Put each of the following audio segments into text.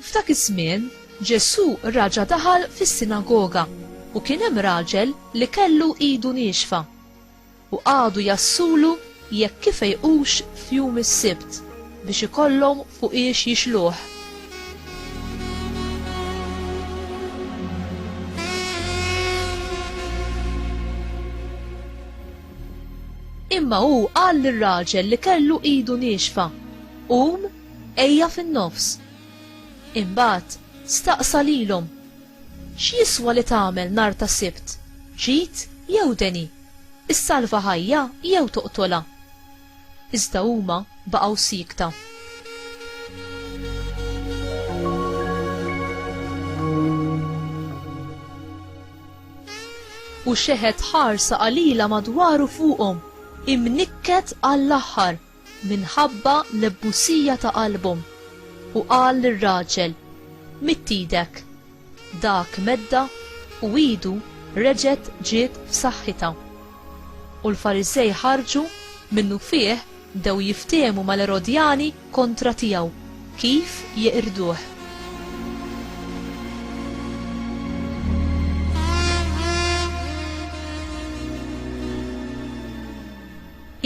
F'dak iż-żmien, Ġesù raġa' daħal fis-sinagoga u kien hemm raġel li kellu idu niexfa. u qagħdu jgħassulu jekk ifejqux f'jum is-Sibt biex ikollhom fuqiex jixluh. Imma hu qal lir-raġel li kellu idu niexfa, Qum, ejja fin-nofs. Imbagħad staqsa lilhom, X'jiswa li tagħmel nhar ta' Sibt, ġid jew deni, issalva ħajja jew toqtolha? Iżda huma baqgħu siekta. U xeħet ħarsa qalila madwar u fuqhom, imnikket għall-aħħar. minħabba l-ebbusija ta' qalbhom, u qal lir-raġel, Midd idek. Dak meddha u idu reġgħet ġiet f'saħħitha. U l-Fariżej ħarġu, minnufih bdew jiftehmu mal-Erodjani kontra tiegħu, kif jeqirduh.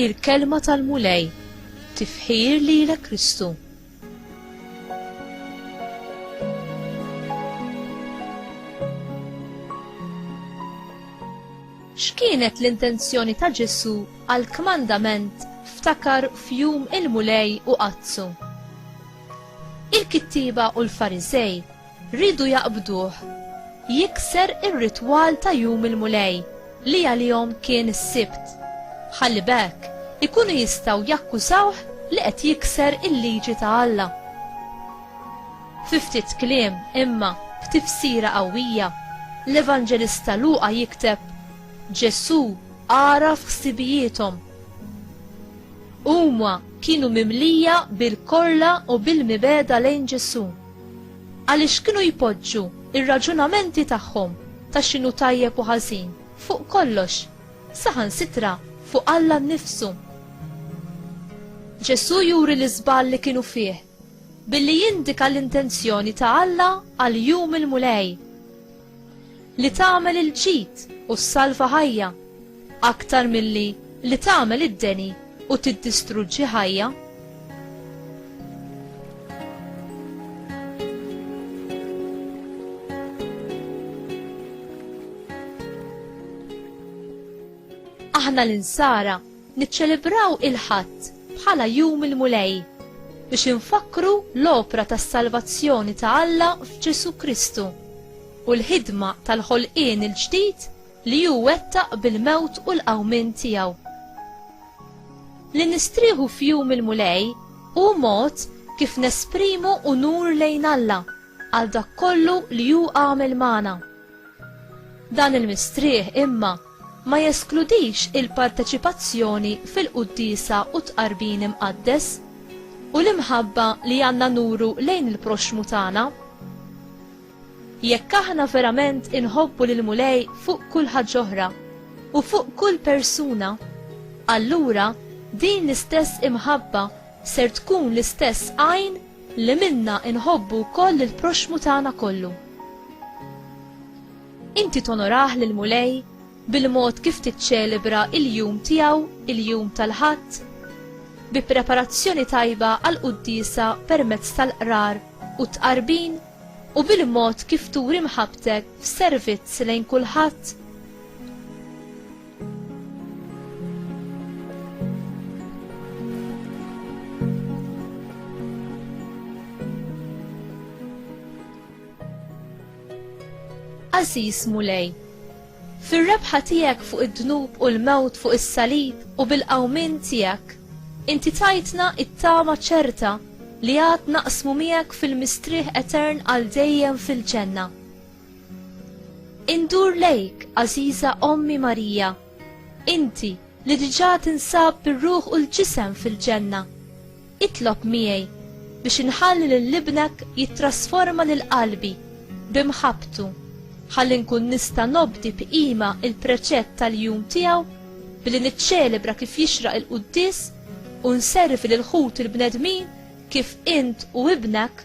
Il-Kelma tal-Mulej, Tifħir lilek Kristu. X'kienet l-intenzjoni ta' Ġesu' għall-kmandament ftakar f'jum il-Mulej u qaddsu? Il-kittieba u l-Fariżej Riedu jaqbduh. Jikser ir-ritwal ta' Jum il-Mulej, li għalihom kien is-Sibt. Ħalli b'hekk, ikunu jistgħu jakkużawh li qed jikser il-liġi ta' Alla. Fi ftit kliem, imma b'tifsira qawwija, l-Evanġelista Luqa jikteb, Ġesù għaraf ħsibijiethom. Huma kienu mimlija bil-korla u bil-mibegħda lejn Ġesù. Għaliex kienu jpoġġu ir-raġunamenti tagħhom ta' x'inhu tajjeb u ħażin fuq kollox, saħansitra fuq Alla nnifsu. Ġesù juri l-iżball li kienu fih billi jindika l-intenzjoni ta' Alla għal jum il-Mulej. li tagħmel il-ġid u ssalva ħajja, aktar milli li tagħmel id-deni u tiddistruġġi ħajja. Aħna l-insara Niċċelebraw il-Ħadd bħala Jum il-Mulej biex infakkru l-opra tas-salvazzjoni ta' Alla f'Ġesù Kristu u l-ħidma tal-ħolqien il-ġdid li hu wettaq bil-mewt u l-qawmien tiegħu. Li nistrieħu f'Jum il-Mulej hu mod kif nesprimu unur lejn Alla għal dak kollu li hu għamel magħna. Dan il-mistrieħ imma ma jeskludix il-parteċipazzjoni fil-quddiesa u t-tqarbin imqaddes u l-imħabba li għandna nuru lejn il-proxxmu tagħna. Jekk aħna verament inħobbu lill-Mulej fuq kull ħaġġ'oħra u fuq kull persuna, allura din l-istess imħabba ser tkun l-istess għajn li minnha inħobbu wkoll lill-proxxmu tagħna kollu. Inti tonorah lill-Mulej bil-mod kif tiċċelebra l-jum tiegħu, il-Jum tal-Ħadd? Bi preparazzjoni tajba għall-quddiesa permezz tal-qrar u t-tqarbin u bil-mod kif turi mħabbtek f'servizz lejn kulħadd? Għażiż Mulej, fir-rebħa tiegħek fuq id-dnub u l-mewt fuq is-salib u bil-qawmien tiegħek, inti tajtna t-tama ċerta li għad naqsmu miegħek fil-mistrieħ etern għal dejjem fil-ġenna. Indur lejk, għażiża Ommi Marija, inti li diġà tinsab bir-ruħ u l-ġisem fil-ġenna, Itlob miegħi biex inħalli lil ibnek jittrasforma lil qalbi b'imħabbtu ħalli nkun nista' nobdi b'qima l-preċett tal-jum tiegħu billi niċċelebra kif jixraq il-quddies u nservi lil ħuti l-bnedmin kif int u ibnek